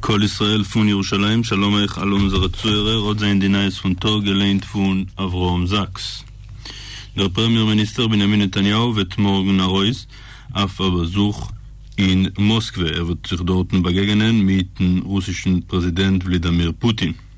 קול ישראל פון ירושלים, שלום אייך אלע אונזערע צוהערער, האט זענען די נייעס פון טאג געליינט פון אברהם זאקס? דער פרעמיער מיניסטער בנימין נתניהו וועט מארגן ארויס אויף א באזוך אין מאסקווע, ער וועט זיך דארטן באגעגענען מיטן רוסישן פרעזידענט ולידאמיר פוטין.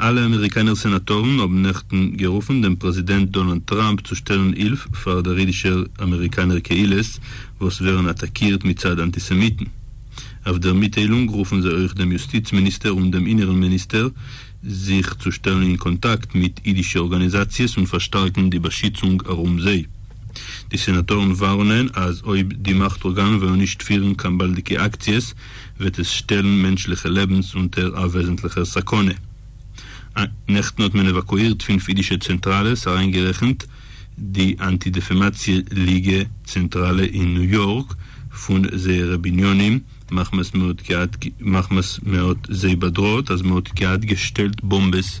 אלע אמעריקאנער סענאטארן האבן נעכטן גערופן דעם פרעזידענט דאנאלד טראמפ צו שטעלן הילף פאר דער אידישער אמעריקאנער קהילות וואס ווערן אטאקירט מצד אנטיסעמיטן. אויף דער מיטטיילונג רופן זיי אויך דעם יוסטיץ מיניסטער און דעם אינערן מיניסטער זיך צו שטעלן אין קאנטאקט מיט אידישע ארגאניזאציעס און פארשטארקן די באשיצונג ארום זיי. די סענאטארן ווארענען אז אויב די מאכט ארגאנען וועלן נישט פירן קיין באלדיגע אקציעס, וועט עס שטעלן מענטשליכע לעבנס אונטער א וועזנטליכער סכנה. נעכטן האט מען עוואקואירט פֿינף אידישע צענטראלעס אריינגערעכנט די אנטי דעפעמאציע ליגע צענטראלע אין ניו יארק פון זייערע בנינים מחמת מען האט זיי באדראעט אז מען האט געהאט געשטעלט באמבעס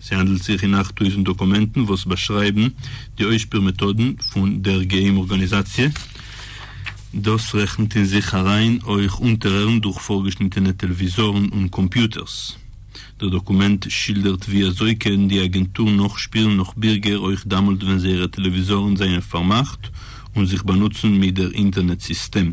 ס'האנדלט זיך אין אַכט טויזנט דאקומענטן וואס באשרייבן די אויסשפיר מעטאדן פון דער געהיים ארגאניזאציע. דאס רעכנט אין זיך אריין אויך אונטערהערן דורך פארגעשניטענע טעלוויזארן און קאמפיוטערס. דער דאקומענט שילדערט ווי אזוי קען די אגענטור נאכשפילן נאך בירגער אויך דאמאלט ווען זייערע טעלוויזארן זענען פארמאכט און זיך באנוצן מיט דער אינטערנעט סיסטעם.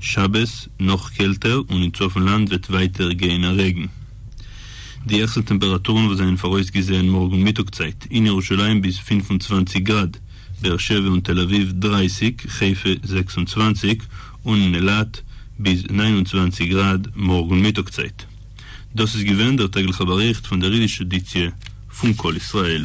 שבת נאך קעלטער און אין צפון לאנד וועט ווייטער גיין א רעגן. די העכסטע טעמפרעטורן וואס זענען פאראויסגעזעהן מארגן מיטאג צייט, אין ירושלים ביז פֿינף און צוואַנציק גראד, באר שבע און תל אביב דרײַסיק, חיפה זעקס און צוואַנציק, און אין אילת ביז נײַן און צוואַנציק גראד מארגן מיטאג צייט. דאס איז געווען דער טעגליכע באריכט פון דער אידישע עדיציע פון קול ישראל.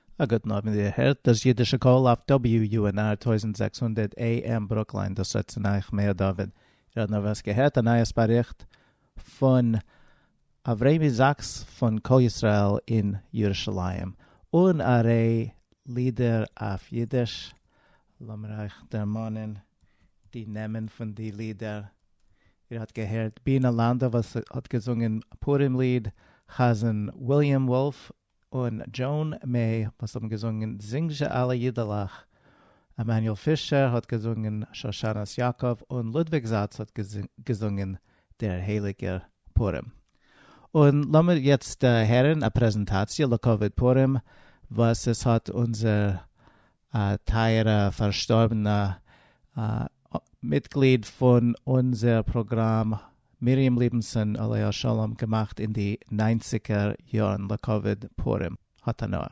א גוטן אויבן איר הערט דאס אידישע קול אויף WUNR טויזנט זעקס הונדערט AM ברוקלין דאס רעדט צו נייך מאיר דוד איר האט נארוואס געהערט א נייעס באריכט פון אברעמי זאקס פון קול ישראל אין ירושלים אן א ר' לידער אויף אידיש לאמיר אייך דערמאנען די נעמען פון די לידער איר האט געהערט בינה לאנדא וואס האט געזונגען פורים ליד חזן וויליאם וואלף און דזשאן מעי וואס האבן געזונגען זינג זשע אלע אידעלעך, עמנואל פישער האט געזונגען שושנת יעקב און לודוויג זאץ האט געזונגען דער הייליגער פורים. און לאמיר יעצט הערן א פרעזענטאציע לכבוד פורים וואס עס האט אונזער א טייערע פארשטארבענע מיטגליד פון אונזער פראגראם מרים ליבנסון עליה השלום געמאכט אין די ניינציגער יארן לכבוד פורים התנאה.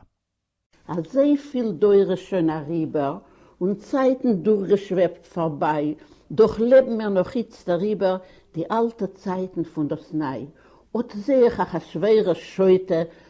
אזויפיל דורות שוין אריבער און צייטן דורכגעשוועבט פארביי, דאך לעבן מיר נאך איצט אריבער די אלטע צייטן פון דאס ניי, אט זעה איך אחשורוש שוטה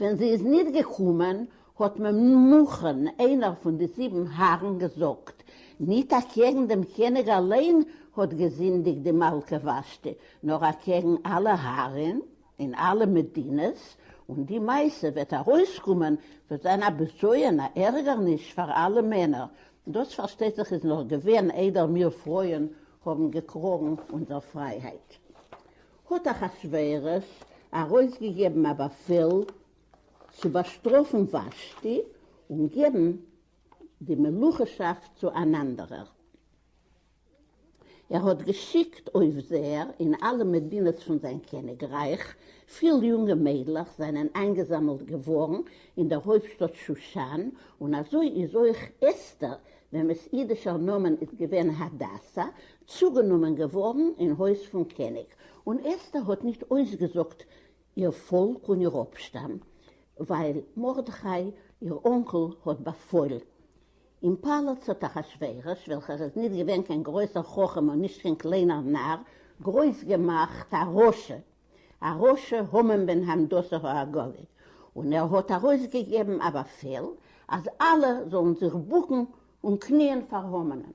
ווען זי איז ניט געקומען, האָט ממוכן, איינער פון די זיבן האַרן, געזאָגט, ניט אַקעגן דעם קעניג אַליין האָט געזינדיקט די מלכה ושתי, נאָר אַקעגן אַלע האַרן און אַלע מדינות, און די מעשה וועט אַרויסקומען, וועט זיין אַ בזיון, אַ ערגערניש פאַר אַלע מענער. דאָס, פאַרשטייט זיך, איז נאָך געווען איידער מיר פרויען האָבן געקראָגן אונזער פרייהייט. האט אחשורוש ארויסגעגעבן א באפעל צו באשטראפן ושתי און געבן די מלוכה'שאפט צו אן אנדערער. ער האט געשיקט אויפזעער אין אלע מדינות פון זיין קעניגרייך, פיל יונגע מיידלעך זענען איינגעזאמלט געווארן אין דער הויפטשטאט שושן, און אזוי איז אויך אסתר, וועמעס אידישער נאמען איז געווען הדסה, צוגענומען געווארן אין הויז פון קעניג, און אסתר האט נישט אויסגעזאגט איר פאלק און איר אפשטאם, ווייל מרדכי איר אנקל האט באפוילן. אין פאלאץ האט אחשורוש, וועלכער איז נישט געווען קיין גרויסער חכם און נישט קיין קליינער נאר, גרויס געמאכט א רשע, א רשע המן בן הנדסה האגגי, און ער האט ארויסגעגעבן א באפעל אז אלע זאלן זיך בוקן און קניען פאר המנ'ן.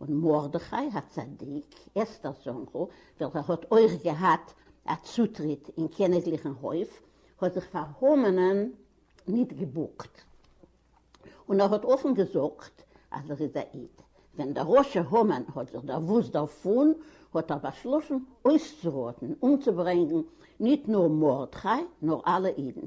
און מרדכי הצדיק, אסתר'ס אנקל, וועלכער האט אויך געהאט א צוטריט אין קעניגליכן הויף, האט זיך פאר המנ'ן ניט געבוקט, און ער האט אפן געזאגט אז ער איז א איד. ווען דער רשע המן האט זיך דערוואוסט דערפון, האט ער באשלאסן אויסצוראטן, אומצוברענגן, ניט נאר מרדכי, נאר אלע אידן.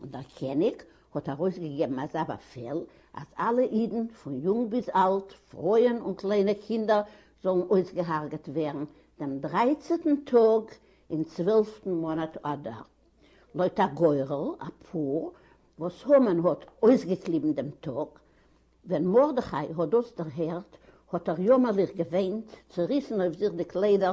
און דער קעניג האט ארויסגעגעבן אזא באפעל, אז אלע אידן, פון יונג ביז אלט, פרויען און קליינע קינדער, זאלן אויסגעהארגעט ווערן דעם דרייצעטן טאג אין צוועלפטן מאנאט אדר, לויט א גורל, אפאר וואס המן האט אויסגעקליבן דעם טאג. ווען מרדכי האט דאס דערהערט, האט ער יאמערליך געוויינט, צעריסן אויף זיך די קליידער,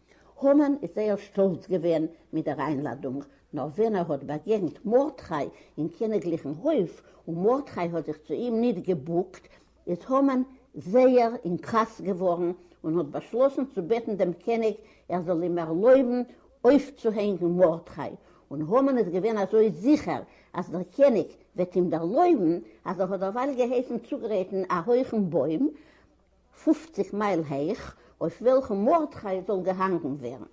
המן איז זייער שטאלץ געווען מיט דער איינלאדונג, נאר ווען ער האט באגעגנט מרדכי אין קעניגליכן הויף, און מרדכי האט זיך צו אים ניט געבוקט, איז המן זייער אין כעס געווארן און האט באשלאסן צו בעטן דעם קעניג ער זאל אים ערלויבן אויפצוהענגן מרדכי, און המן איז געווען אזוי זיכער אז דער קעניג וועט אים ערלויבן, אז ער האט דערווייל געהייסן צוגרייטן א הויכן בוים, פֿופֿציק מייל הייך, אויף וועלכן מרדכי זאל געהאנגן ווערן,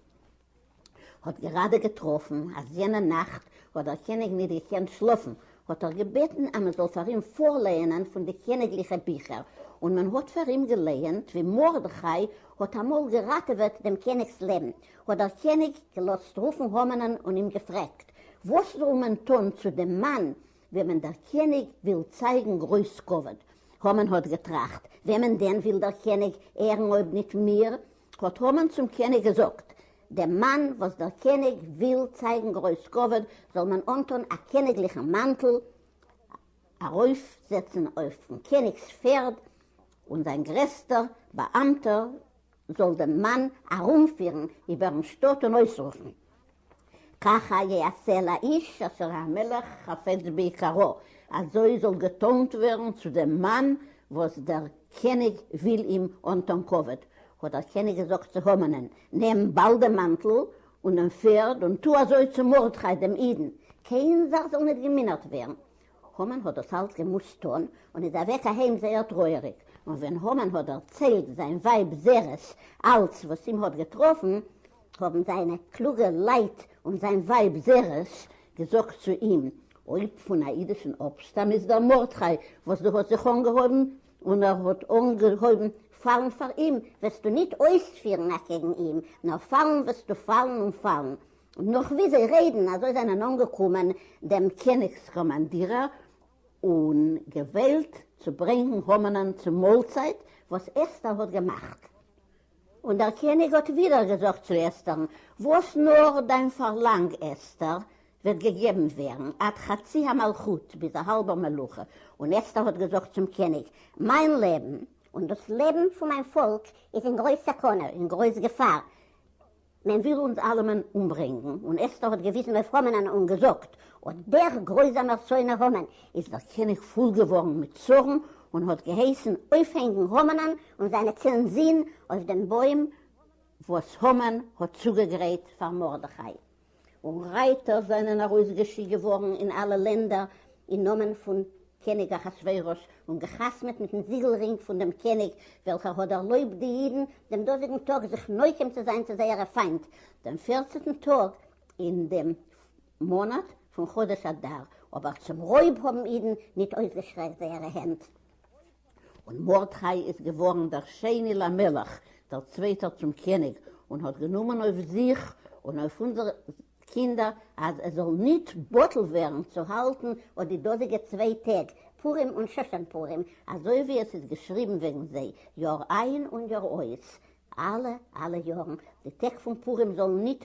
האט געראדע געטראפן אז יענע נאכט האט דער קעניג ניט געקענט שלאפן, האט ער געבעטן אז מען זאל פאר אים פארלייענען פון די קעניגליכע ביכער, און מען האט פאר אים געלייענט ווי מרדכי האט אמאל געראטעוועט דעם קעניג'ס לעבן, האט דער קעניג געלאזט רופן המנ'ן און אים געפרעגט, וואס זאל מען טאן צו דעם מאן, וועמען דער קעניג וויל צייגן גרויס כבוד. המן האט געטראכט, וועמען דען וויל דער קעניג ערן אויב ניט מיר? האט המן צום קעניג געזאגט, דעם מאן וואס דער קעניג וויל צייגן גרויס כבוד זאל מען אנטאן א קעניגליכן מאנטל, ארויפזעצן אויפן קעניגס פערד, און זיין גרעסטער באאמטער זאָל דעם מאַן אַרומפֿירן איבערן שטאָט און אױסרופֿן, כּכה יעשה לאיש אשר המלך חפץ ביקרו, אַזױ זאָל געטאָנט װערן צו דעם מאַן, װאָס דער קעניג װיל אים אָנטאָן כּבֿוד. האָט דער קעניג געזאָגט צו המנען, נעם באַלד דעם מאַנטל און דעם פֿערד און טו אַזױ צו מרדכי דעם ייִדן, קײן זאַך זאָל ניט געמינערט װערן, המן האט דאס אלס געמוזט טון, און איז אוועק אהיים זייער טרויעריג, און ווען המן האט דערציילט זיין ווייב זרס אלס וואס אים האט געטראפן, האבן זיינע קלוגע לייט און זיין ווייב זרס געזאגט צו אים, אויב פון א אידישן אפשטאם איז דער מרדכי וואס דו האסט זיך אנגעהויבן, און ער האט אנגעהויבן פאלן פאר אים, וועסטו ניט אויספירן אקעגן אים, נאר פאלן וועסטו פאלן און פאלן, און נאָך ווי זיי רעדן אַזוי זיינען אָנגעקומען דעם קעניגס קאָמאַנדירער און געוועלט צו ברענגן המנען צום מאָלצייט וואָס אסתר האָט געמאַכט. און דער קעניג האָט ווידער געזאָגט צו אסתרן, וואָס נאָר דיין פאַרלאַנג, אסתר, וועט געגעבן ווערן, עד חצי המלכות, ביז אַ האַלבער מלוכה. און אסתר האָט געזאָגט צום קעניג, מיין לעבן, און דאָס לעבן פון מיין פאָלק איז אין גרויס סכנה, אין גרויס געפאַר, מען וויל אונז אלעמען אומברענגן, און אסתר האט געוויזן אויף המנ'ן און געזאגט, אט דער גרויזאמער שונא המן איז דער קעניג פול געווארן מיט צארן, און האט געהייסן אויפהענגן המנ'ן און זיינע צען זין אויף דעם בוים וואס המן האט צוגעגרייט פאר מרדכי, און רייטער זענען ארויסגעשיקט געווארן אין אלע לענדער אין נאמען פון קעניג אחשורוש, און געחתמעט מיטן זיגל-רינג פון דעם קעניג, וועלכער האט דערלויבט די אידן דעם דאזיגן טאג זיך נוקם צו זיין צו זייערע פיינט, דעם פערצנטן טאג אין דעם מאנאט פון חודש אדר, אבער צום רויב האבן אידן ניט אויסגעשטרעקט זייערע הענט. און מרדכי איז געווארן דער שני למלך, דער צווייטער צום קעניג, און האט גענומען אויף זיך און אויף אונזערע קינדער, אז עס זאל ניט בטל ווערן צו האלטן אט די דאזיגע צוויי טעג, פורים און שושן פורים, אזוי ווי עס איז געשריבן וועגן זיי, יאר איין און יאר אויס, אלע, אלע יארן, די טעג פון פורים זאלן ניט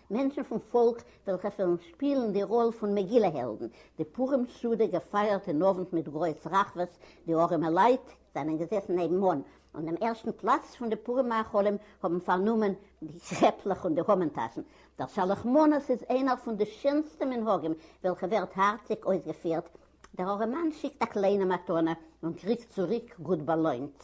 מענטשן פון פאלק וועלכע וועלן שפילן די ראל פון מגילה העלדן, די פורים סעודה געפייערט אין אוונט מיט גרויס רחבות, די ארעמעלייט זענען געזעסן נעבנאן און דעם ערשטן פלאץ פון די פורים מאכלים האבן פארנומען די קעפלעך און די המן טאשן, דער שלח מנות איז איינער פון די שענסטע מנהגים וועלכע ווערט הארציג אויסגעפירט, דער ארעמאן שיקט א קליינע מתנה און קריגט צוריק גוט באלוינט.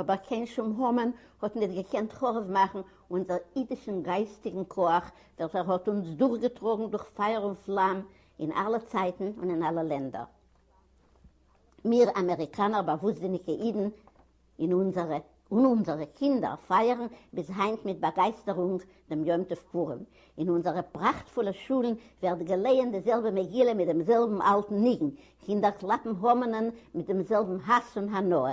אבער קיין שום המן האט ניט געקענט חרוב מאכן אונזער אידישן גייסטיגן כח, וועלכער האט אונז דורכגעטראגן דורך פייער און פלאם אין אלע צייטן און אין אלע לענדער. מיר אמעריקאנער באוואוסטזיניגע אידן און אונזערע און אונזערע קינדער פייערן ביז היינט מיט באגייסטערונג דעם יום טוב פורים. אין אונזערע פראכטפולע שולן ווערט געלייענט די זעלבע מגילה מיט דעם זעלבן אלטן ניגון, קינדער קלאפן המנ'ען מיט דעם זעלבן האס און הנאה,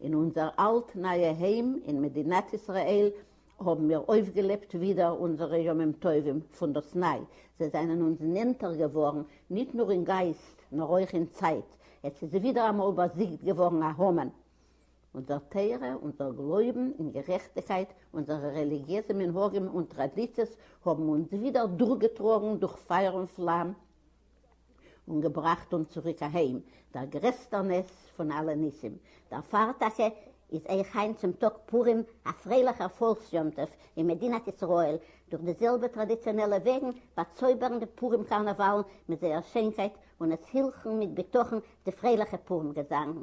אין אונזער אלט נייע היים אין מדינת ישראל האבן מיר אויפגעלעבט ווידער אונזערע ימים טובים פונדאסניי, זיי זענען אונז נענטער געווארן ניט נאר אין גייסט נאר אויך אין צייט, עס איז ווידער אמאל באזיגט געווארן א המן. אונזער תורה, אונזער גלויבן אין גערעכטיקייט, אונזערע רעליגיעזע מנהגים און טראדיציעס האבן אונז ווידער דורכגעטראגן דורך פייער און פלאם און געבראכט אונז צוריק אהיים, דער גרעסטער נס פון אלע ניסים. דערפאר טאקע איז אויך היינט צום טאג פורים א פרייליכער פאלקס יום טוב אין מדינת ישראל, דורך די זעלבע טראדיציאנעלע וועגן באצויבערן די פורים קארנאוואלן מיט זייער שיינקייט און עס הילכן מיט בטחון די פרייליכע פורים געזאנגן.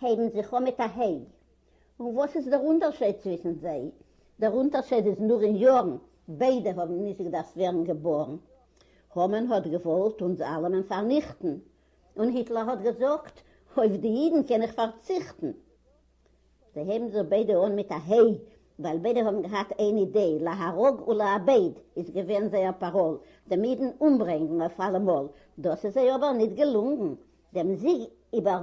הייבן זיך אן מיט א ה'. און וואס איז דער אונטערשייד צווישן זיי? דער אונטערשייד איז נאר אין יארן, ביידע האבן נישט געדארפט ווערן געבארן. המן האט געוואלט אונז אלעמען פארניכטן, און היטלער האט געזאגט, אויף די אידן קען איך פארציכטן. זיי הייבן זיך ביידע אן מיט א ה', ווייל ביידע האבן געהאט איין אידעע, להרוג ולאבד איז געווען זייער פאראל, דעם אידן אומברענגן אויף אלעמאל. דאס איז זיי אבער ניט געלונגן, דעם זיג איבער.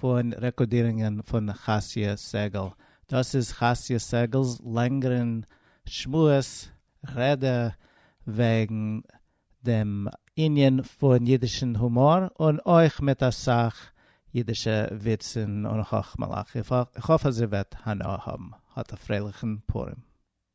פון רעקארדירונגען פון חסיא סגל, דאס איז חסיא סגל'ס לענגערן שמועס, רעדע, וועגן דעם ענין פון אידישן הומאר, און אויך מיט אסאך אידישע וויצן און חכמה'לעך, איך האף אז איר וועט הנאה האבן, האט א פרייליכן פורים.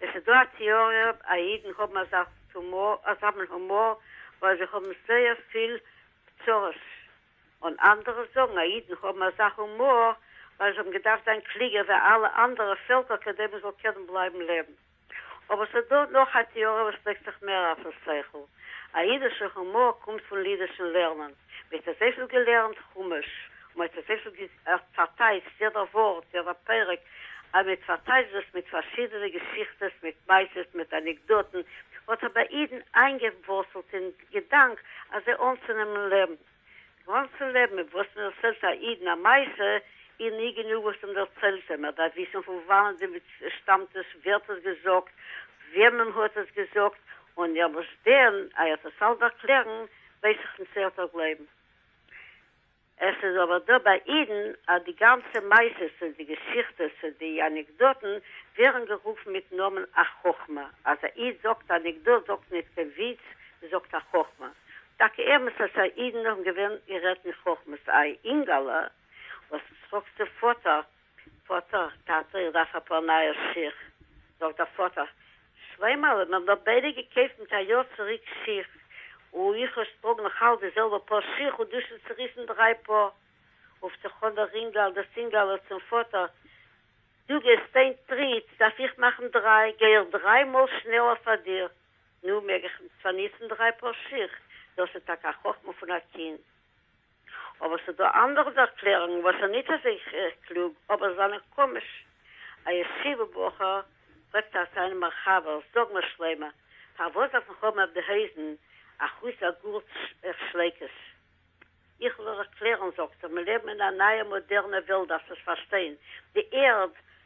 עס איז דא א טעאריע אויב אידן האבן אזא מין הומאר ווייל זיי האבן זייער פיל צרות, און אנדערע זאגן אז אידן האבן אזא הומאר ווייל זיי האבן געדארפט זיין קלוגער ווי אלע אנדערע פעלקער כדי מען זאל קענען בלייבן לעבן. אבער עס איז דא נאך א טעאריע וואס לייגט זיך מער אויפן שכל, א אידישע הומאר קומט פון לידישן לערנען. מ'האט אזויפיל געלערנט חומש, און מ'האט אזויפיל גע פארטייטשט יעדע ווארט, יעדע פרק, אז מ'האט פארטייטשט דאס מיט פארשידענע געשיכטעס, מיט מעשות, מיט אנעקדאטן, האט אבער אידן איינגעווארצלט אין געדאנק אז זיי אנצונעמען לעבן, גאנצן לעבן, אויף וואס מ'דערציילט א אידן א מעשה, איז נישט גענוג וואס דעם דערציילט זיי, מ'דארף וויסן פון וואנעט די מציאות שטאמט עס, ווער האט עס געזאגט, וועמען מ'האט עס געזאגט, און ערשט דען אייער'ס עס אלץ דערקלערן, ווייס איך נישט צו ער האט נאך גלויבן. עס איז אבער דא ביי אידן אז די גאנצע מעשות און די געשיכטעס און די אנעקדאטן ווערן גערופן מיטן נאמען א חכמה, אז א איד זאגט א אנעקדאט זאגט נישט קיין וויץ, מען זאגט א חכמה. טאקע אמת אז סיי אידן האבן געווען גערעדט אין חכמות, איי אינגאלע וואס טראגסטו פאטער פאטער, טאטע, איך דארף אפאר נייע שיך. זאגט דער פאטער, שלמה'לע, מיר האבן ביידע געקויפט מיט א יאר צוריק שיך, און איך נישט טראג נאך אלץ די זעלבע פאר שיך, און דו שוין צעריסן דריי פאר. רופט זיך אן דער אינגל, דאס אינגעלע, צום פאטער, דו גייסט איין טריט, דארף איך מאכן דריי, גיי איך דריי מאל שנעלער פאר דיר, נו, מעג איך צוניצן דריי פאר שיך. דאס איז טאקע א חכמה פון א קינד. אבער ס'דא אנדערע ערקלערונגן וואס זענען ניט אזוי קלוג, אבער זענען קאמיש. א ישיבה בחור פרעגט א זיינעם א חבר, זאג מיר שלמה, פארוואס דארף איך האבן אויף די הויזן א חוץ א גארטש איך שלעק עס? איך וועל ערקלערן, זאגט ער, מיר לעבן אין א נייע מאדערנע וועלט, דארפסט עס פארשטיין, די ערד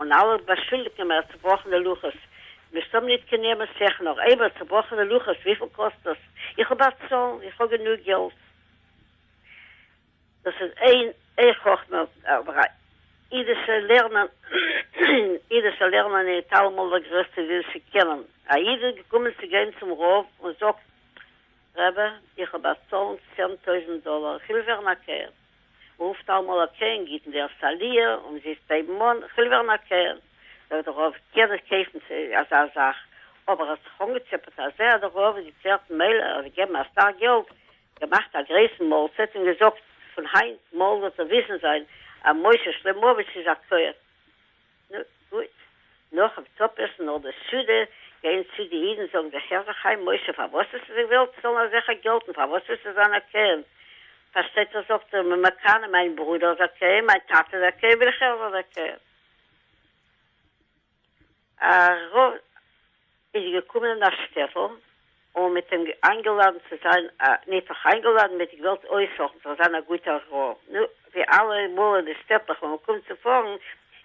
און אלע באשולדיגן מער צובראכענע לוחות, מ'מוזט האבן ניט קיין נעמא סעך נאר אייוועלט צובראכענע לוחות, וויפיל קאסט דאס? איך האב א צאלן, איך האב גענוג געלט. דאס איז אין אי חכמה אבער א אידישע לערנען אין אידישע לערנען ניט אלעמאל דער גרעסטע וויל צו קענען. א איד איז געקומען צו גיין צום רב און זאגט, רבי, איך האב א צאלן צען טויזנט דאלאר, איך וויל ווערן א קער. רופט אמאל א קרן גיט מיר א סאליר אומזיסט הייבן אן כ'וויל ווערן א קרן זאגט די רב קען איך קויפן אזא זאך אבער האסט זיך אנגעצעפעט אז ער די רב איז געצערט מילא ער האט געגעבן אסאך געלט געמאכט א גרויסן מאלצייט און געזאגט פון היינט מארגן וועט ער וויסן זיין אז משה שלמאוויטש איז א קרן. נו, גוט. נאכן צופעסן אל די סעודה, גייען צו די אידן זאגן זיך הער זיך איין, משה, פארוואס האסטו זיך געוועלט צאלן אזעלכע געלט און פארוואס ווילסטו זיין א כהן? פארשטייט זיך זאגט ער, מען מקנא, מיין ברודער איז א כהן, מיין טאטע איז א כהן, וויל איך הער זיין א כהן. איז געקומען אין א שטעטל און מען האט אים איינגעלאדענט צו זיין א, ניטאך איינגעלאדענט, מען האט אים געוואלט אויסהעלפן זאל זיין א גוטער רב, נו, ווי אלע מאל אין די שטעטלעך ווען מען קומט צו פארן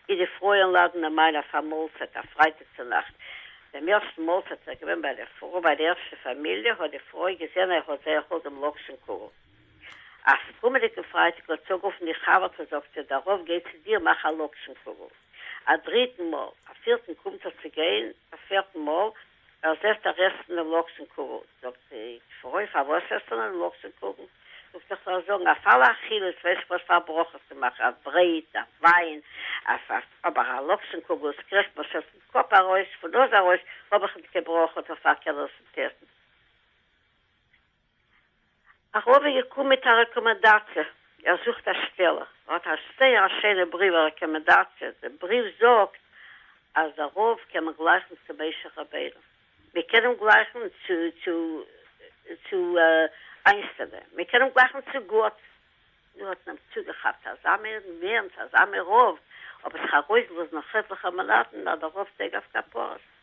איז די פרויען לאדענען אים איין אויף א מאלצייט א פרייטאג צו נאכט, דעם ערשטן מאלצייט איז ער געווען ביי די פרוי ביי די ערשטע פאמיליע, האט די פרוי געזען ער האט זייער האלט דעם לאקשן קוגל. אויפן קומענדיגן פרייטאג האט צוגערופן די חבר'טע און זאגט זי דערויף גיי צו דיר מאך א לאקשן קוגל א דריטן מאל א פירטן קומט ער צו גיין א פערטן מאל ער זעהט א רעסטענע לאקשן קוגל זאגט זי פרוי פארוואס זעהסטו אן לאקשן קוגל זאגט ער כ'וועל זאגן אויף אלע אכילות ווייסט וואס פאר ברכות צו מאכן אויף ברעט אויף וויין אויף אויף אבער א לאקשן קוגל עס קריכט מיר שוין פון קאפ ארויס פון נאז ארויס האב איך נישט קיין ברכות אויף פאר קעלערס און טעסטן. א רבי געקומען מיט א רעקאמענדאציע, ער זוכט א שטעלע, ער האט א זייער א שיינע בריוו א רעקאמענדאציע, די בריוו זאגט אז דער רב קען מען גלייכן צו משה רבינו, מען קען אים גלייכן צו צו צו איינשטיין, מען קען אים גלייכן צו גאט, מיר האט מען צוגעכאפט אזא מער נער'ן צו אזא מער רב, אבער זיך ארויסלאזן נאך עטליכע מאנאטן נאך די רב טעג אויף כפרות,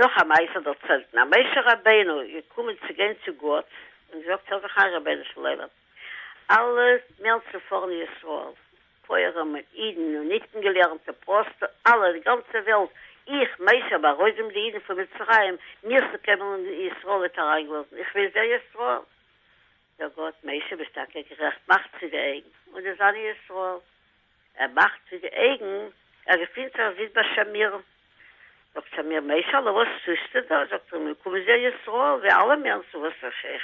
נאך א מעשה דערציילט מען אז משה רבינו איז געקומען צו גיין צו גאט און זאגט ער זיך איין רבונו של עולם אלע מערצופארענע ישראל פויערעם און אידן און ניט געלערנטע פראסטע אלע די גאנצע וועלט איך משה בארויבען די אידן פון מצרים מיר צו קעוועלען ישראל ניט אריינגעלאזען איך וויל זען ישראל זאגט גאט משה ביסט טאקע גערעכט מאך צו די אויגן און די זענען ישראל. ער מאכט מיט די אייגן ער געפינט זיך זיס ביי שמיר, זאגט שמיר מעשה'לע וואס טוסטו דא, זאגט ער מיר קומען זיע ישראל ווי אלע מענטשן וואס איך איך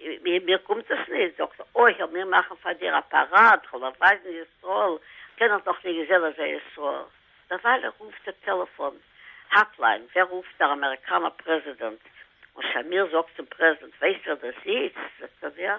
ווי מיר קומט עס נישט, זאגט ער אוי העל מיר מאכן פאר דיר א פאראד כ'וועל דיר ווייזן ישראל, קענעך דאך נישט געזען אזא ישראל, דערווייל רופט די טעלעפאן האטליין ווער רופט דער אמעריקאנער פרעזידענט, און שמיר זאגט צום פרעזידענט ווייסט ווער דאס איז, זאגט ער ווער?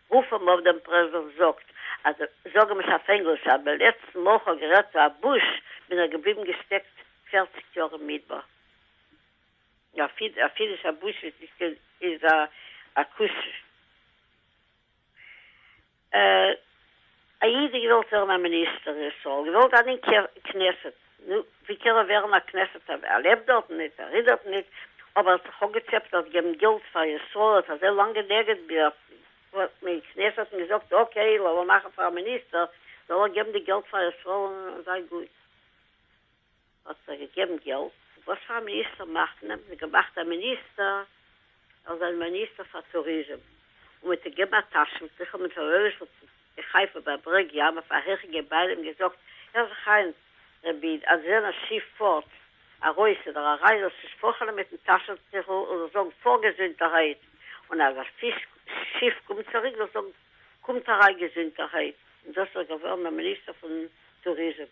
רוף אים אויף דעם פרעזידענט זאגט אז זאג אים עס אויף ענגליש אז די לעצטן מאל כ'האב גערעדט צו א בוש בין ער געבליבן געשטעקט פערציג יאר אין מדבר אפילו ס'א בוש איז א כוס. א איד איז געוועלט ווערן א מיניסטער אין ישראל, געוועלט זיין אין כנסת, נו, ווי קען ער ווערן א כנסת אב, ער לעבט דארטן ניט, ער איז דארטן ניט, אבער ער האט זיך אפגעצעפט דארט געבן געלט פאר ישראל, ער האט אזוי לאנג גענעגעט ביז וואס מען אין כנסת האט אים געזאגט, אקעי, לאמיר מאכן פאר א מיניסטער, זאל ער געבן די געלט פאר ישראל און זיי גוט. האט ער געגעבן געלט. וואס פאר מיניסטער מאכט מען? מען געמאכט א מיניסטער ער זאל מיניסטער פאר טוריזעם און מיט א געבאר טאשן טיכעל מיט א רויערשל צו די חיפה ביי ברעג ים אויף א העכע געביידע און געזאגט הער זיך איין רבי איד אז ווען א שיף פארט ארויס אדער אריין זאלסטו שפאכעלען מיטן טאשן טיכעל און זאלסט זאגן פאר געזונטערהייט און אז א פיש שיף קומט צוריק זאלסט זאגן קומט אריין געזונטערהייט און דאס איז ער געווארן א מיניסטער פון טוריזעם.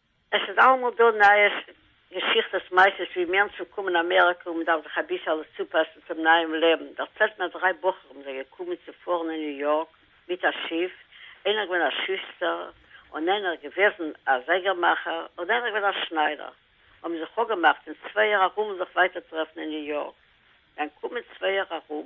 עס איז אלעמאל דא נייעס, געשיכטעס, מעשות ווי מענטשן קומען אמעריקא און מען דארף זיך אביסעלע צופאסן צום נייעם לעבן, דערציילט מיר אז דריי בחורים זענען געקומען צו פארן אין ניו יארק מיט א שיף, איינער געווען א שוסטער, און איינער געוועזן א זייגער מאכער, און איינער געווען א שניידער, האבן זיך אפגעמאכט אין צווייער ארום זיך ווייטער טרעפן אין ניו יארק, זיי אנקומען צווייער ארום.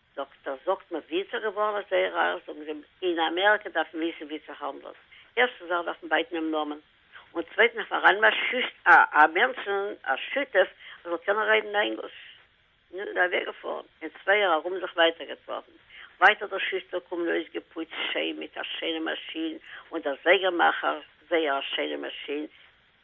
זאגט ער זאגט מיר ווי איז ער געווארן אזוי רייך זאגן זיי אין אמעריקא דארף מען וויסן ווי צו האנדלן ערשטן זאך דארף מען בייטן דעם נאמען און צווייטן דארף מען ארייננעמען א שותף א מענטשן א שותף וואס זאל קענען רעדן ענגליש נו איז ער אוועק געפארן און צוויי יאר ארום זיך ווייטער געטראפן ווייטער דער שוסטער קומען אויסגעפוצט שיין מיט א שיינע מאשין און דער זייגער מאכער זייער א שיינע מאשין.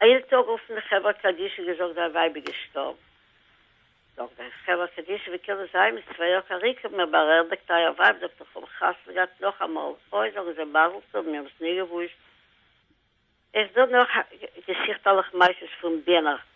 איין טאג אויפן חברה קדישא געזאגט דיין ווייב איז געשטארבן, זאגט דיין חברה קדישא ווי קען עס זיין מיט צוויי יאר קאריקע האט מיר בארעדעגט אייער ווייב זאגט איך האב חתונה געהאט נאכאמאל, אוי זאגן זיי מזל טוב מיר האבן עס ניגעוואוסט. איך דא נאך געסיכט אלך מעשות פון ביענער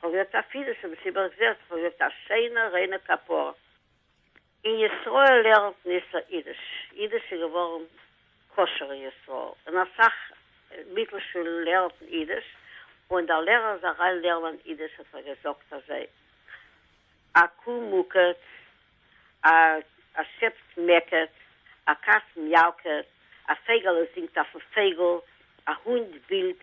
כ'האב יעצט א פידעש און מסתבר איך זעה אז כ'האב יעצט א שיינע ריינע כפרה. אין ישראל לערנט מען איסור אידיש, אידיש איז געווארן כשר אין ישראל, און אסאך מיטל שולן לערנטן אידיש, און דער לערער איז אריין לערנען אידיש האט ער געזאגט אזוי, א קו מוקעט, א שעפס מעקעט, א קאץ מיאוקעט, א פייגעלע זינגט אויפן פייגל, א הונט בילט,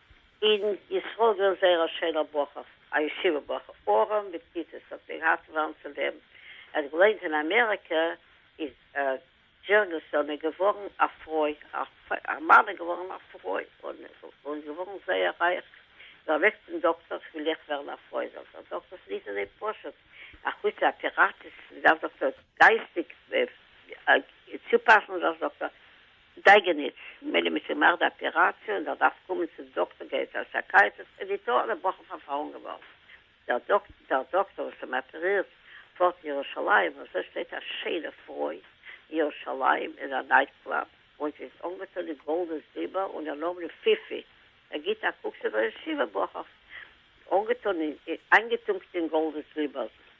אין ישראל געווען זייער א שיינער בחור, א ישיבה בחור, ארעם בטיטוס, האט מען געהאט וואנט צו לעבן, ער האט געליינט אין אמעריקע, איז דזשערנסאן איז געווארן א פרוי, א מאן איז געווארן א פרוי, און געווארן זייער רייך, איז ער אוועק צום דאקטער, איך וויל אויך ווערן א פרוי, זאגט דער דאקטער, ס'נישט אזוי פשוט, אחוץ די אפיראציעס, מ'דארף זאגט ער, גייסטיג צופאסן זיך, זאגט ער, דייגעניץ, ממילא מיט אים מאך די אפיראציע און ער דארף קומען צום דאקטער גייט צו א סייקיאטריסט איז די טאר אן אבאכער פארפארן געווארן דער דאקטער וואס אים אפערירט פארט אין ירושלים אזוי שטייט א שיינע פרוי אין ירושלים אין א נייט קלאב און זי איז אנגעטון אין גאלד און זילבער און איר נאמען איז פיפי ער גיט א קוק צו דער ישיבה בחור אנגעטון אין איינגעטונקט אין גאלד און זילבער.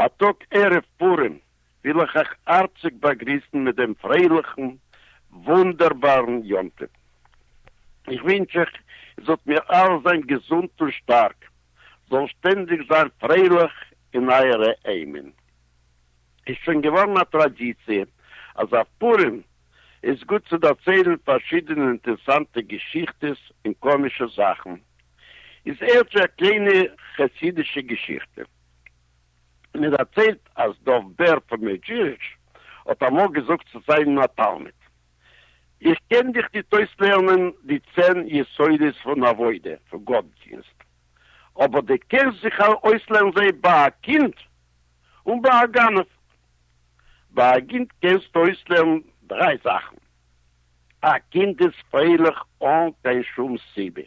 א טאג ערב פורים וויל איך אייך הארציג באגריסן מיט דעם פרייליכן וואונדערבארן יום טוב. איך ווינטש אייך איר זאלט מיר אלע זיין געזונט און שטארק, זאלן שטענדיג זיין פרייליך אין אייערע היימען. איז שוין געווארן א טראדיציע אז אויף פורים איז גוט צו דערציילן פארשידענע אינטערסאנטע געשיכטעס און קאמישע זאכן, איז הערט זיך א קליינע חסידישע געשיכטע. מען דערציילט אז דוב בער פון מעדזשיריטש האט אמאל געזאגט צו זיין א תלמיד, איך קען דיך ניט אויסלערנען די צען יסודות פון עבודה, פון גאט-דינסט, אבער דו קענסט זיך אויסלערנען זיי ביי א קינד און ביי א גנב. ביי א קינד קענסטו אויסלערנען דריי זאכן, א קינד איז פרייליך אן קיין שום סיבה,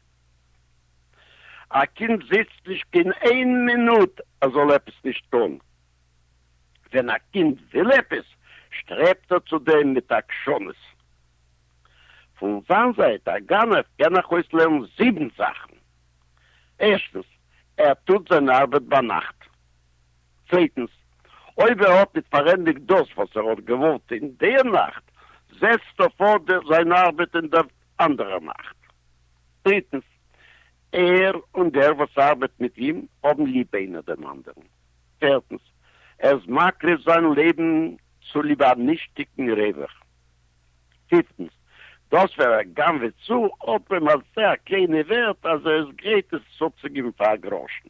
א קינד זיצט נישט קיין איין מינוט ער זאל עפעס נישט טון, ווען א קינד וויל עפעס שטרעבט ער צו דעם מיט עקשנות. פון זיין זייט, א גנב קען איך אויסלערנען זיבן זאכן, ערשטנס, ער טוט זיין ארבעט ביינאכט. צווייטנס, אויב ער האט ניט פארענדיקט דאס, וואס ער האט געוואלט טאן דער נאכט, זעצט ער פארט זיין ארבעט אין דער אנדערער נאכט. דריטנס, ער און דער, וואס ארבעט מיט אים, האבן ליב איינער דעם אנדערן. פערטנס, ער איז מקריב זיין לעבן צוליב א נישטיקן רווח. פיפטנס, דאס ווער ער גנב'עט צו, האט ביים א זעהר קליינע ווערט, אז ער איז גרייט עס צורצוגיבן פאר א גראשן.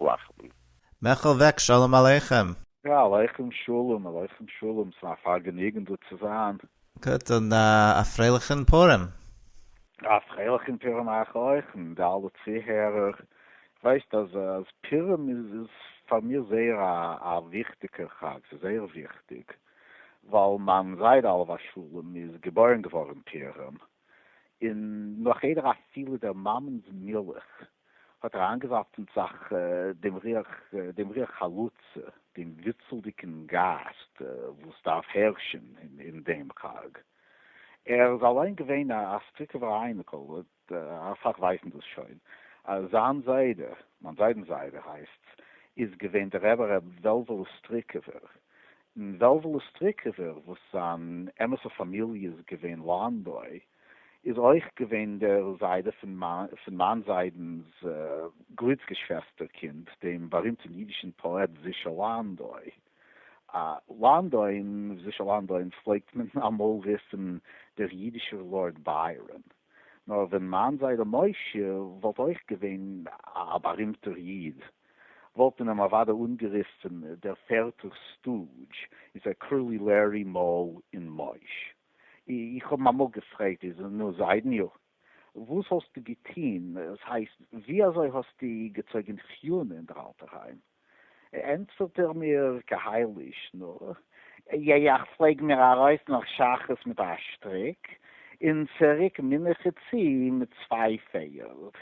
לאכטן. מעכל אוועק שלום עליכם! יא עליכם שלום עליכם שלום ס'איז א פארגעניגן דא צו זיין. גוט און א פרייליכן פורים! א פרייליכן פורים אייך אויך און די אלע צוהערער, ווייסט אז אז פורים איז איז פאר מיר זייער א א וויכטיגע חג ס'איז זייער וויכטיג ווייל מיין זיידע עליו השלום איז געבוירן געווארן פורים און נאך איידער אפילו דער מאמענ'ס מילך האט אריינגעווארפן זיך דעם ריח, דעם ריח חלוצה, דעם וויצלדיגן גייסט וואס דארף הערשן אין דעם חג. ער איז אליין געווען א סטריקובער אייניקל, אט אסאך ווייסן דאס שוין, אז זיין זיידע, מיין זיידנ'ס זיידע הייסט'ס, איז געווען דער רבי ר' וועלוועלע סטריקובער, און וועלוועלע סטריקעווער וואס זיין אמת'ע פאמיליע איז געווען לאנדוי, איז אויך געווען דער זיידע פון מיין זיידנ'ס גליצגעשוועסטער קינד, דעם בארימטן אידישן פאעט זישא לאנדוי. לאנדוין, זישא לאנדוין פלעגט מען אמאל רופן דער אידישער לארד ביירן. נאר ווען מיין זיידע משה וואלט אויך געווען א בארימטער איד, וואלט מען אים אוודאי אנגערופן דער פערטער סטודזש, איז ער קראלי לערי מאל און מויש. איך האב אים אמאל געפרעגט, איז נו זיידעניו, וואס האסטו געטון, עס הייסט, ווי אזוי האסטו געצויגען חיונה אין דער אלטער היים? ענטפערט ער מיר כהאיליש נא, יע יע איך פלעג מיר ארויס נאך שחרית מיט א שטריק, און צוריק מנחה צו מיט צוויי פערד.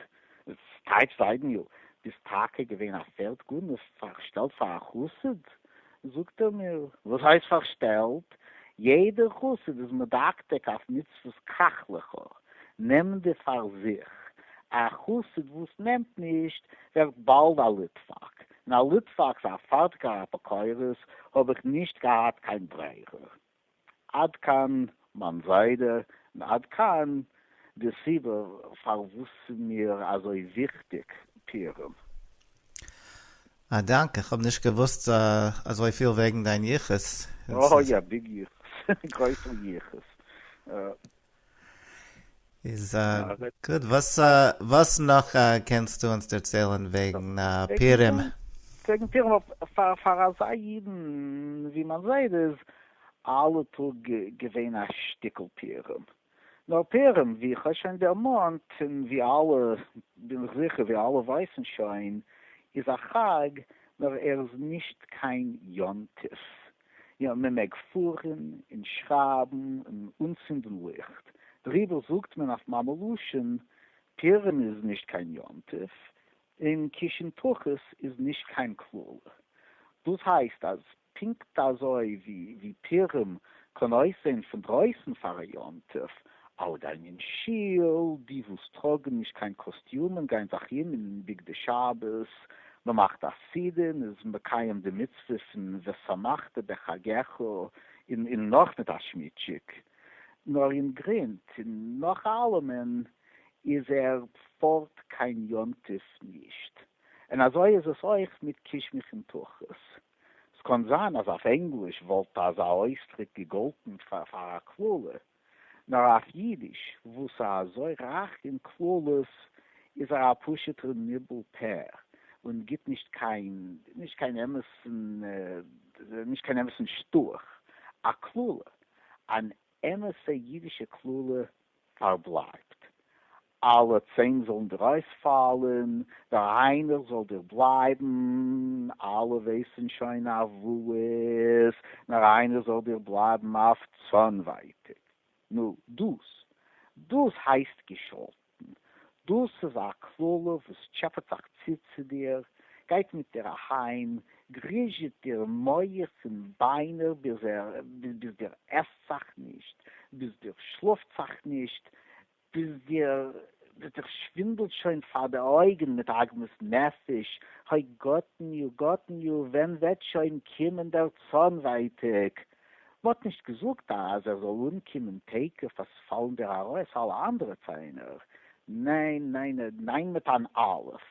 ס'טייטש זיידעניו, ביסט טאקע געווען א פערד גנב, פארשטעלט פאר א חסיד? זאגט ער מיר, וואס הייסט פארשטעלט? יעדער חסיד איז מדקדק אויף מצוות קח לך, נעם די פאר זיך, א חסיד וואס נעמט נישט, ווערט באלד א ליטוואק, און א ליטוואק פאר א פארטיקער אפיקורס האב איך נישט געהאט קיין ברירה. עד כאן מיין זיידע און עד כאן די סיבה פארוואס ס'איז מיר אזוי וויכטיג פירום. א דאנק, איך האב נישט געוואוסט אזויפיל וועגן דיין יחוס. אוי א ביג יחוס, גרויסער יחוס. איז גוט, וואס נאך קענסטו אונז דערציילן וועגן פורים? וועגן פורים, פאר אזא אידן ווי מיין זיידע איז אלע טאג געווען א שטיקל פורים, נאר פורים ווי איך האב שוין דערמאנט און ווי אלע, בין איך זיכער ווי אלע ווייסן שוין, איז א חג נאר ער איז נישט קיין יום טוב, יא, מען מעג פארן און שרייבן און אנצינדן ליכט, דעריבער זאגט מען אויף מאמע לשון, פורים איז נישט קיין יום טוב, און קישן תחת איז נישט קיין קללה. דאס הייסט אז פונקט אזוי ווי פורים קען אויסזען פון דרויסן פאר א יום טוב, אלע גייען אין שול, די וואס טראגן נישט קיין קאסטיומען גייען זיך אום אין בגדי שבת, מען מאכט א סעודה, מען איז מקיים די מצוה פון ושמחת בחגך און און נאך מיט א שמיטשיק, נאר אין גרונט און נאך אלעמען איז ער פארט קיין יום טוב נישט, און אזוי איז עס אויך מיט קיש מיך און תכות. ס'קאן זיין אז אויף ענגליש וואלט אזא אויסדרוק געגאלטן פאר א קללה, נאר אויף אידיש וואס איז אזוי רייך אין קללות איז ער א פשוט'ער ניבול פה און גיט נישט קיין נישט קיין אמת'ן נישט קיין אמת'ן שטאך א קללה, אן אמת'ע אידישע קללה פארבלייבט אַלע צען זאָלן דיר אױספֿאַלן, דער אײנער זאָל דיר בלײַבן. אַלע װײסן שױן אַף װאָס, נאָר אײנער זאָל דיר בלײַבן אַף צאָנװײטיק. נו, דאָס, דאָס הײסט געשאָלטן! דאָס איז אַ קללה, װאָס טשעפּעט זיך צו צו דיר, גײט מיט דיר אַהײם, גריזשעט דיר מוח און בײנער, ביז דיר עסט זיך נישט, ביז דיר שלאָפֿט זיך נישט, ביז דיר וועט זיך שווינדלט שוין פאר די אויגן מיט עגמת נפש, האי גאטן יו גאטן יו, ווען וועט שוין קומען דער צאן ווייטאג? מ'האט נישט געזאגט אז ער זאל אנקומען תיכף אז פאלן דיר ארויס אלע אנדערע ציינער, ניין ניין ניין מיט אן אלף,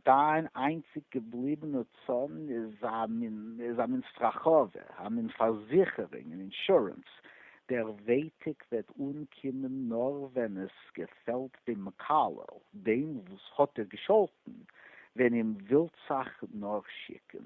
דיין איינציג געבליבענע צאן איז א מין סטראכאווע, א מין פארזיכערונג און אינשורענס. דער ווייטאג וועט אנקומען נאר ווען עס געפעלט דעם מקלל, דעם וואס האט דיר געשאלטן, ווען אים ווילטסעך נאר שיקן.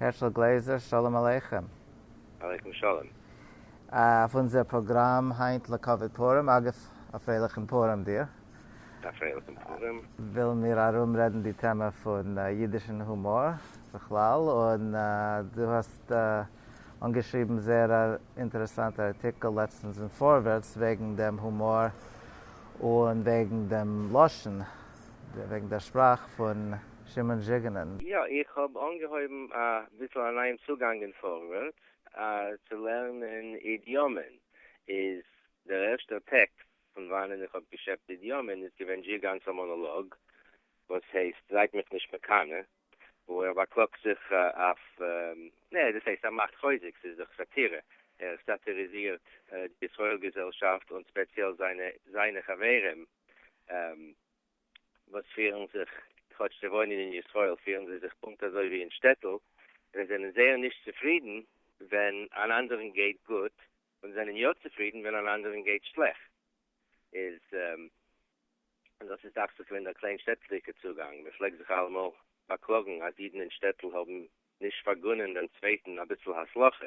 הערשל גלעזער, שלום עליכם. עליכם שלום. אויף אונזער פראגראם היינט לכבוד פורים, אגב א פרייליכן פורים דיר. א פרייליכן פורים. ווילן מיר ארומרעדן די טעמע פון אידישן הומאר בכלל, און דו האסט אנגעשריבן זייער א אינטערעסאנטע ארטיקל לעצטנס אין פארווערטס וועגן דעם הומאר און וועגן דעם לשון. וועגן דער שפראך פון שמעון זשיגענען. יא, איך האב אנגעהויבן א ביסל א נייעם צוגאנג אין פארווערטס, צו לערנען אידיאמען איז דער ערשטער טעקסט פון וואנען איך האב געשעפט אידיאמען איז געווען זשיגאן'ס א מאנאלאג וואס הייסט זייט מיך נישט מקנא, וואו ער באקלאגט זיך אויף, נע, דאס הייסט ער מאכט חוזק, ס'איז דאך סאטירע, ער סאטיריזירט די ישראל געזעלשאפט און ספעציעל זיינע חברים. וואס פירן זיך, כאטש זיי וואוינען אין ישראל, פירן זיי זיך פונקט אזוי ווי אין שטעטל, זיי זענען זייער נישט צופרידן ווען אן אנדערן גייט גוט, און זענען יא צופרידן ווען אן אנדערן גייט שלעכט. איז דאס איז דאכט זיך געווען דער קליין שטעטלדיגער צוגאנג. מען פלעגט זיך אלעמאל באקלאגן אז אידן אין שטעטל האבן נישט פארגונען דעם צווייטן אביסל הצלחה.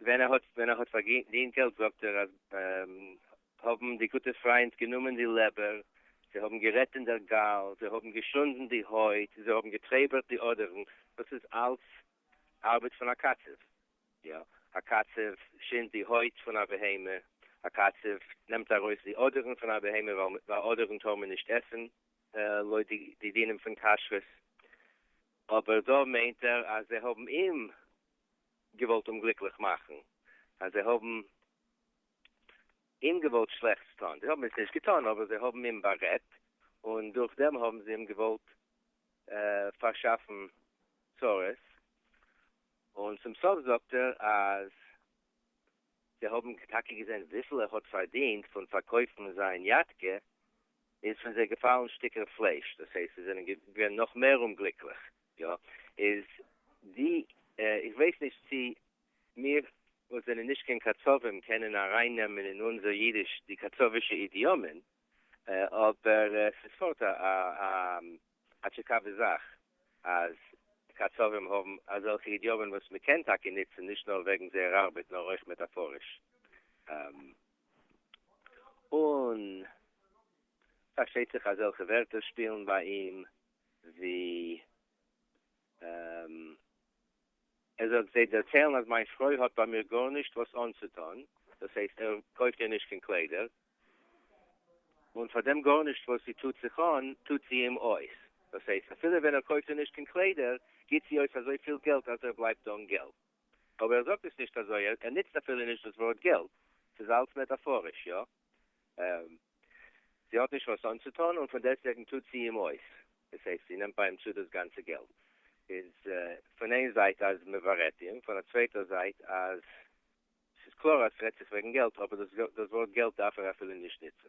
ווען ער האט ווען ער האט פארדינט געלט זאגט ער אז האבן די גוטע פריינט גענומען די לעבער, זיי האבן גערעדט אין דער גאל, זיי האבן געשונדן די הויט, זיי האבן געטרעבערט די אדערן, דאס איז אלץ ארבעט פון א קצב, יא, א קצב שינדט די הויט פון א בהמה, א קצב נעמט ארויס די אדערן פון א בהמה ווייל אדערן טאר מען נישט עסן לויט די דינים פון כשרות, אבער דא מיינט ער אז זיי האבן אים געוואלט אומגליקליך מאכן, אז זיי האבן אים געוואלט שלעכטס טון, זיי האבן עס נישט געטון אבער זיי האבן אים בארעדט און דורך דעם האבן זיי אים געוואלט פארשאפן צרות, און צום סוף זאגט ער אז זיי האבן טאקע געזען וויפיל ער האט פארדינט פון פארקויפן זיין יאטקע, איז פון זיי געפאלן שטיקער פלייש, דאס הייסט זיי זענען געווען נאך מער אומגליקליך, יא, איז די, איך ווייס נישט צי מיר וואס זענען נישט קיין קצבים קענען ארייננעמען אין אונזער אידיש די קצבישע אידיאמען, אבער עס איז פארט א. א טשיקאווע זאך אז קצבים האבן אזעלכע אידיאמען וואס מען קען טאקע נוצן נישט נאר וועגן זייער ארבעט נאר אויך מעטאפאריש. און פארשטייט זיך אזעלכע ווערטער שפילן ביי אים ווי ער זאגט זיי דערציילן אז מיין פרוי האט ביי מיר גארנישט וואס אנצוטון, דאס הייסט ער קויפט איר נישט קיין קליידער, און פאר דעם גארנישט וואס זי טוט זיך אן, טוט זי אים אויס. דאס הייסט, אפילו ווען ער קויפט איר נישט קיין קליידער, גיט זי אויס אזוי פיל געלט אז ער בלייבט אן געלט. אבער ער זאגט עס נישט אזוי, ער ניצט אפילו נישט דאס ווארט געלט. ס'איז אלץ מעטאפאריש, יא. זי האט נישט וואס אנצוטון, און פון דעסטוועגן טוט זי אים אויס. דאס הייסט, זי נעמט ביי אים צו דאס גאנצע געלט. איז פון איין זייט אז מ'ווארעט אים, פון א צווייטער זייט אז ס'איז קלאר אז ס'רעדט זיך וועגן געלט, אבער דאס ווארט געלט דארף ער אפילו נישט נוצן.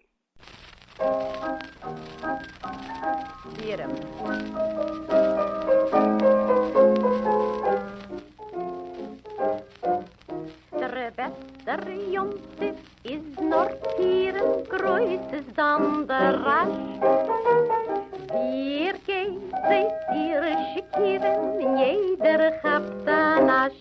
דער יום טוב איז נאר פירען גרויס איז דאן דער רעש ווי ער גייט זעהט איר שיכורען אין יעדער כאפט א נאש